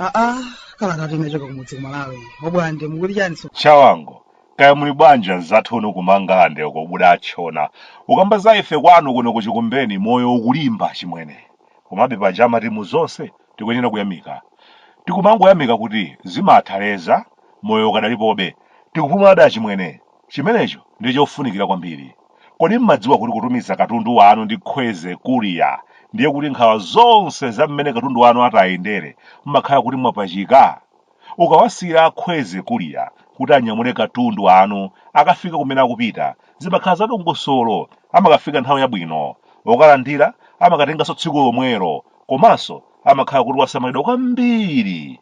aa kalata inachoka kumudzi kumalawi obwande mukuti chani so chawango kaya muli bwanji anzathu inu kumangalande uko kuda atchona ukamba za ife kwanu kuno kuchikumbeni moyo ukulimba achimwene komabe paja amati mu zonse tikuyenera kuyamika tikumangoyamika kuti zimatha leza moyo ukadalipobe tikupumula ada achimwene chimenecho ndi chofunikira kwambiri kodi mmadziwa kuti kutumiza katundu wanu ndi kwezy courier ndiye kuti nkhawa zonse za mmene katundu wanu atayendere mmakhala kuti mwapachika Ukawasiyira a Kwezy Courier kuti anyamule katundu anu akafike kumene akupita, zimakhala za dongosolo. Amakafika nthawi yabwino. Okalandira amakatenganso tsiku lomwelo. Komanso amakhala kuti wasamalidwa kwambiri.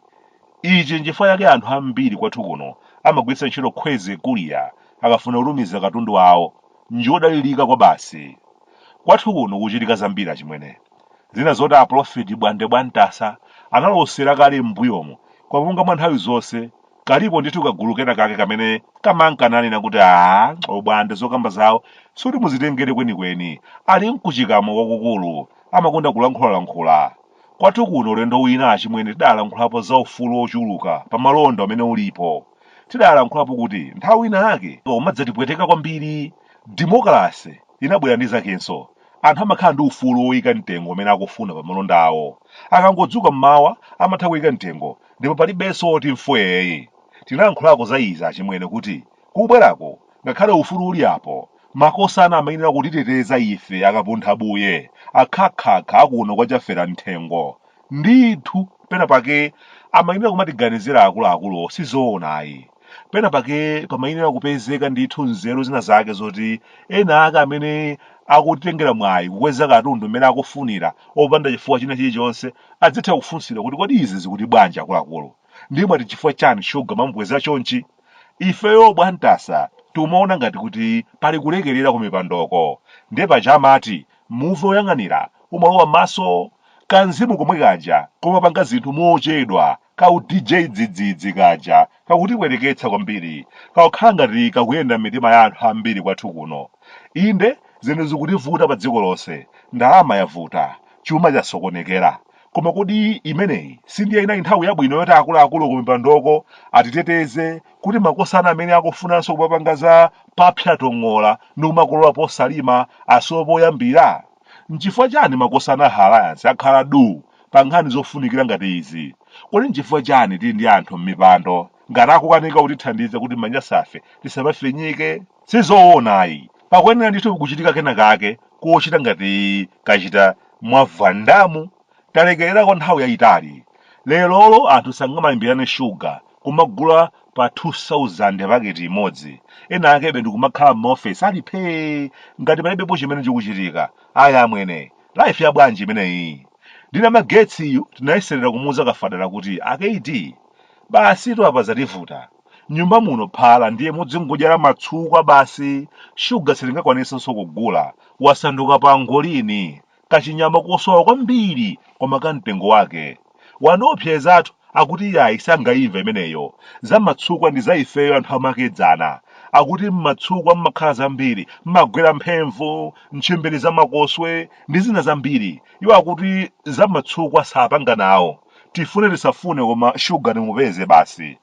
Ichi n'chifukwa chake anthu ambiri kwathu kuno amagwiritsa ntchito Kwezy Courier akafuna kutumiza katundu wawo. Njodalirika kwabasi. Kwathu kuno kuchitika zambiri achimwene. Zina zoti a Pulofeti Bwande Bwantasa analosera kale m'mbuyomu, koma monga mwa nthawi zonse, kalipo ndithu kagulu kena kake kamene kamanka nanena kuti aah, o Bwande zokamba zawo sikuti muzitengere kwenikweni, ali nkuchikamwa kwakukulu, amakonda kulankhulalankhula. Kwathu kuno ulendo wina achimwene tidalankhulapo za ufulu wochuluka pa malonda umene ulipo. Tidalankhulapo kuti nthawi ina yake umadzatipweteka kwambiri. Demokalase! inabwera ndi zakenso. Anthu amakhala ndi ufulu woika mtengo umene akufuna pa malonda awo. Akangodzuka m'mawa amatha kuika mtengo ndipo palibenso woti mfwee. Tinalankhulako za izi achimwene kuti kubwerako ngakhale ufulu uli apo, makosana amayenera kutiteteza ife akapunthabuye, akhakhakha a kuno kwa Chafera M'thengo. Ndithu penapake amayenera kumatiganizira akuluakuluwo si zoona ayi. pena pake pamayenera kupezeka ndithu nzeru zina zake zoti ena ake amene akutengera mwayi kukweza katundu mmene akufunira opanda chifukwa china chilichonse adzitha kufunsidwa kuti kodi izi zikuti bwanji akuluakulu ndiye mwati chifukwa chani shuga mwamukweza chonchi ifeyo bwantasa timaona ngati kuti pali kulekerera ku mipandoko ndiye paja amati muvi woyang'anira umalowa m'maso kamzimu komwe kaja komapanga zinthu mochedwa ka u DJ dzidzidzi kaja kakutipweteketsa kwambiri kakukhala ngati kakuyenda m'mitima ya anthu ambiri kwathu kuno inde zinthu zikutivuta pa dziko lonse ndalama yavuta chuma chasokonekera koma kodi imeneyi sindiye inali nthawi yabwino yoti akuluakulu kumipandoko atiteteze kuti makosana amene akufunanso kupapanga za papsa tong'ola ndi kumakolola posalima asowe poyambira N'chifukwa chani makosana a Alliance akhala duu pa nkhani zofunikira ngati izi? Kodi n'chifukwa chani tili ndi anthu m'mipando ngati akukanika kutithandiza kuti manyasafe tisamafinyike? Sizoona ayi, pakuyenera ndithu kuchitika kena kake kochita ngati kachita Mwavandamu talekerera kwa nthawi yayitali. Lerolo anthu sangamalimbirane shuga, kumagula pa 2,000 paketi imodzi, ena akebe ndikumakhala m'maofesi ali phee ngati palibepo chimene chikuchitika. Aya amwene, life ya bwanji imeneyi? Ndi Namagetsiyu tinayeserera kumuuza Kafadala kuti, A KD, basitu apa zativuta. Nyumba muno phala ndiye mudzingodyera matsukwa basi, shuga sitingakwanitsenso kugula, wasanduka pangolini, Kachinyama kosowa kwambiri koma ka mtengo wake. Anaopsezatu akuti yayi sangaimva imeneyo. Za matsukwa ndi za ifeyo anthu amakedzana. Akuti mmatsukwa mmakhala zambiri, mmagwera mphemvu, ntchimbiri za makoswe ndi zina zambiri. Iwo akuti za matsukwa sapanga nawo. Tifune tisafune koma shuga timupeze basi.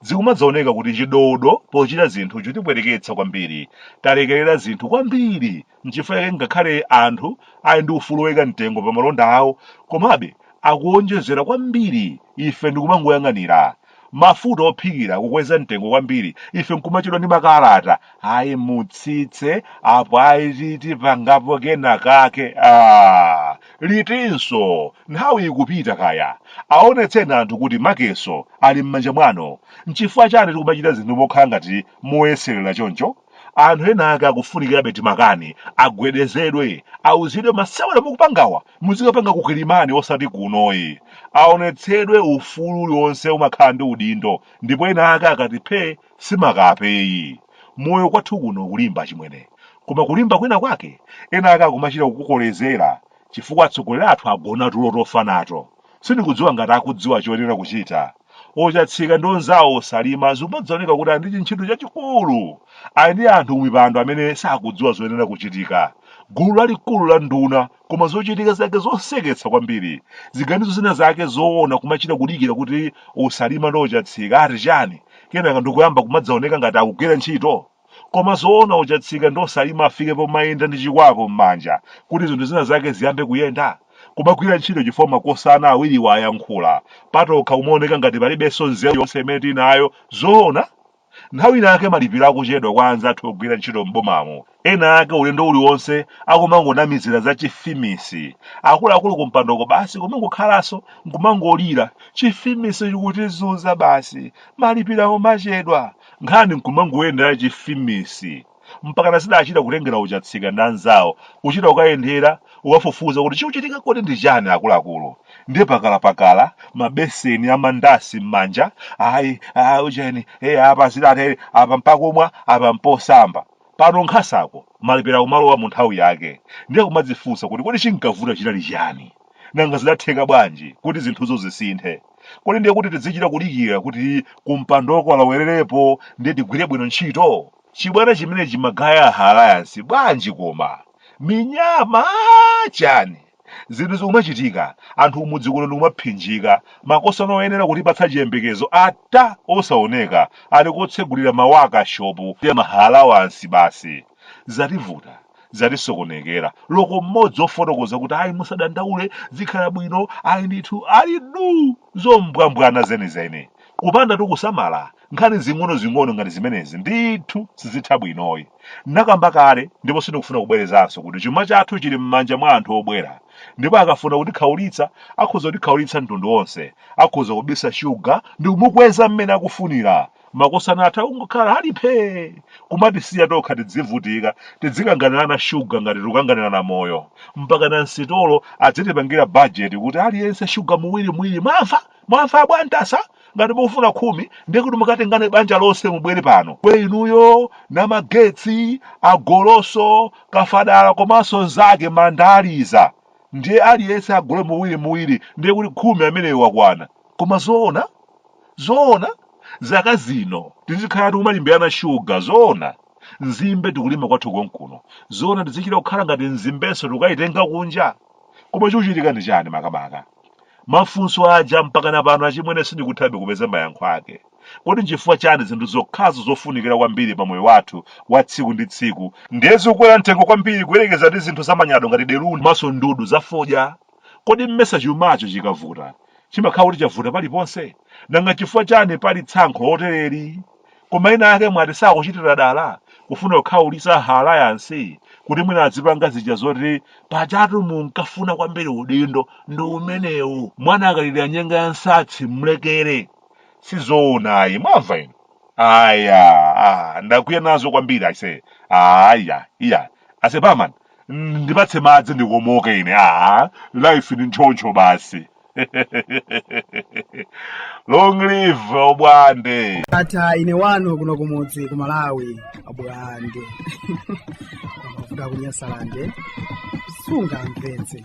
Zikumadzaoneka kuti chidodo pochita zinthu chitipweteketsa kwambiri. Talekerera zinthu kwambiri Nchifukwa chake ngakhale anthu ali ndi ufulu woika mtengo pa malonda awo, komabe akuwonjezera kwambiri ife ndikumangoyang'anira. Mafuta ophikira kukweza mtengo kwambiri, ife nkumachedwa ndi makalata. Ayi mutsitse, apo ayi ti- tipangapo kena kake. Ah, litinso? Nthawi ikupita kaya. Aonetseni anthu kuti makeso ali m'manja mwanu. Nchifukwa chani tikumachita zinthu mokhala ngati moyeserera choncho? Anthu ena ake akufunikirabe timakani agwedezedwe auzidwe masewera mukupangawa muzikapanga ku Kilimani osati kunoyi. Aonetsedwe ufulu uliwonse umakhala ndi udindo ndipo ena ake akati phee si makapeyi. Moyo kwathu kuno kulimba chimwene koma kulimba kwina kwake ena ake akumachita kukukolezera chifukwa atsogoleri athu agona tulo tofa nato. Sindikudziwa ngati akudziwa choyenera kuchita. ochatsika ndi onzawo osalima zikumadzaoneka kuti ali ndi chintchito chachikulu ali ndi anthu m'mipando amene sakudziwa zoyenera kuchitika gulu lalikulu la nduna koma zochitika zake zoseketsa kwambiri ziganizo zina zake zoona kumachita kudikira kuti osalima ndi ochatsika ati chani kenaka ndikuyamba kumadzaoneka ngati akugwira ntchito koma zoona ochatsika ndi osalima afike pomayenda ndi chikwapu m'manja kuti zinthu zina zake ziyambe kuyenda kumagwira ntchito chifukwa makosana awiriwa ayankhula patokha kumaoneka ngati palibenso nzeru yonse imene tinayo zoona nthawi inaake malipiro akuchedwa kwa anzathu ogwira ntchito m'bomamo ena ake ulendo uliwonse akumangonamizira za chifimisi akuluakulu kumpandoko basi kumangokhalanso nkumangolira chifimisi chikutizunza basi malipiro kumachedwa nkhani nkumangoyendera chifimisi mpaka nazidachita kutengera wocha tsika ndi anzawo kuchita kukayendera ukafufuza kuti chikuchitika kodi ndi chani akuluakulu ndiye pakalapakala mabeseni amandasi m'manja ayi ah, ujeni e apa zidatere apa mpakumwa apa mposamba pano nkhasako, malipira kumalowa mu nthawi yake ndiye kumadzifunsa kuti kodi chinkavuta chinali chani nanga zidatheka bwanji kuti zinthuzo zisinthe kodi ndiye kuti tidzichita kudikira kuti kumpandoko alawererepo ndiye tigwire bwino ntchito chibwana chimene chimagaya alayansi bwanji koma minyama chani zinthu zikumachitika anthu kumudzi kuno ndikumaphinjika makosana oyenera kutipatsa chiyembekezo ata osaoneka ali kotsegulira mawekishopu ndi ma alawansi basi zativuta zatisokonekera loko mmodzi ofotokoza kuti ayi musadandaule zikhala bwino ayi ndithu ali du zombwambwana zenizeni kupanda kusamala nkhani zing'onozing'ono ngati zimenezi ndithu sizitha bwinoyi nakamba kale ndipo sindikufuna kubwerezanso kuti chuma chathu chili m'manja mwa anthu obwera ndipo akafuna kutikhaulitsa akhoza kutikhaulitsa mtundu wonse akhoza kubisa shuga ndi kumukweza mmene akufunira makosana athu kungokhala ali phee kumatisiya tokha tidzivutika tidzikanganirana shuga ngati tikukanganirana moyo mpaka na msitolo adzitipangira bajeti kuti aliyense shuga muwiri muwiri mwamva mwamva abwana tasa ngati mukufuna khumi ndiye kuti mukatengane banja lonse mubwere pano kwe inuyo na magetsi agoloso kafadala komanso nzake mandaliza ndiye aliyense agule muwiri muwiri ndiye kuti khumi ameneyo wakwana koma zoona zoona zaka zino tizikhala tikumalimbirana shuga zoona nzimbe tikulima kwathu konkuno zoona tizichita kukhala ngati nzimbenso tikukayitenga kunja koma chikuchitika ndi chani makamaka mafunso aja mpakana pano achimwene sindikuthabe kupeza mayankho ake kodi nchifukwa chani zinthu zokhazo zofunikira kwambiri pa moyo wathu wa tsiku ndi tsiku ndiye zikukwera mtengo kwambiri kuyerekeza ndi zinthu zamanyado ngati deruni komanso ndudu zafodya Kodi mmesa chumacho chikavuta chimakhala kuti chavuta paliponse? Nanga chifukwa chani pali tsankho lotereli? Koma ena ake mwati sakuchitira dala kufuna kukhaulitsa a Alliance kuti mwina adzipanga zija zoti pajatu munkafuna kwambiri udindo ndi umenewu. Mwana akalilira nyenga ya nsatsi mlekere. Sizoona ayi, mwamva inu? Aya, ah, ndakwiya nazo kwambiri aise. Aya, iya. ase barman mm, ndipatse madzi ndikomoke ine aa life ndi choncho basi long live obwande ndatha ine wanu kuno kumudzi ku malawi abwande amavuta kunyasalande sunga mpenzi